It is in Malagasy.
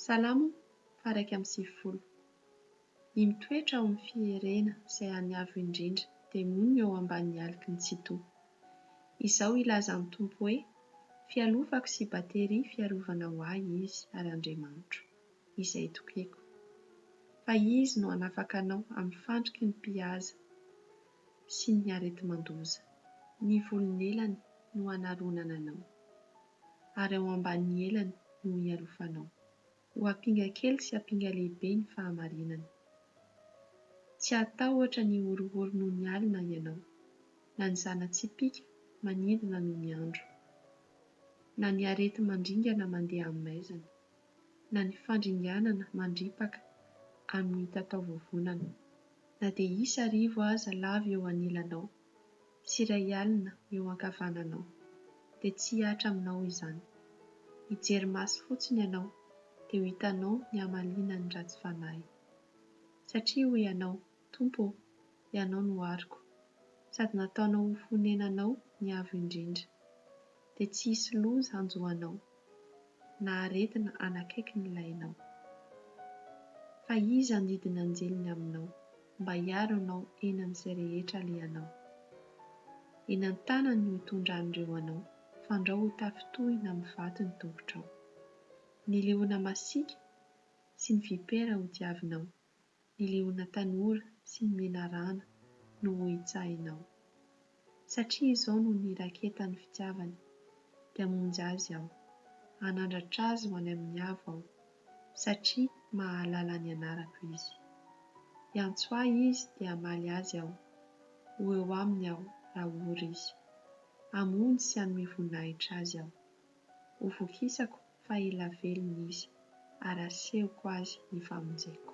Salamo faharaika amby sivifolo. Ny mitoetra ao amin'ny fierena izay an'ny Avo Indrindra dia monina eo ambanin'ny aliky ny Tsitoha. Izao hilaza ny Tompo hoe, Fialofako sy bateria fiarovana ho ahy Izy ary Andriamanitro, Izay itokeko. Fa Izy no hanafaka anao amin'ny fandriky ny mpihaza sy ny areti-mandoza. Ny volon'elany no hanaronana anao. ary ao ambanin'ny elany no hialofanao. Ho ampinga kely sy ampinga lehibe ny fahamarinana. Tsy hatahotra ny horohoro noho ny alina ianao, na ny zana-tsipìka manidina noho ny andro, na ny areti-mandringana mandeha amin'ny maizina, na ny fandringanana mandripaka amin'ny tatao vovonana, na dia hisy arivo aza lavo eo anilanao. sy iray alina eo ankavananao, dia tsy hihatra aminao izany. Hijery maso fotsiny ianao, dia ho hitanao ny hamalinan'ny ratsy fanahy. Satria hoy ianao, Tompo ô, Ianao no ariko, sady nataonao ho fonenanao ny Avo Indrindra. dia tsy hisy loza hanjo anao, na aretina hanakaiky ny lainao. Fa Izy handidy ny anjeliny aminao mba hiaro anao eny amin'izay rehetra alehanao. Eny an-tanany no hitondran'ireo anao, fandrao ho tafintohina amin'ny vato ny tongotrao. Ny leona masiaka sy ny vipera hodiavinao, ny liona tanora sy ny menarana no ho hitsahinao. Satria izao no niraketan'ny fitiavany, dia hamonjy azy aho, hanandratra azy ho any amin'ny avo aho, satria mahalala ny anarako izy. Hiantso ahy izy dia hamaly azy aho, ho eo aminy aho raha ory izy. Hamonjy sy hanome voninahitra azy aho. Ho vokisako fa ela velona izy, ary asehoko azy ny famonjeko.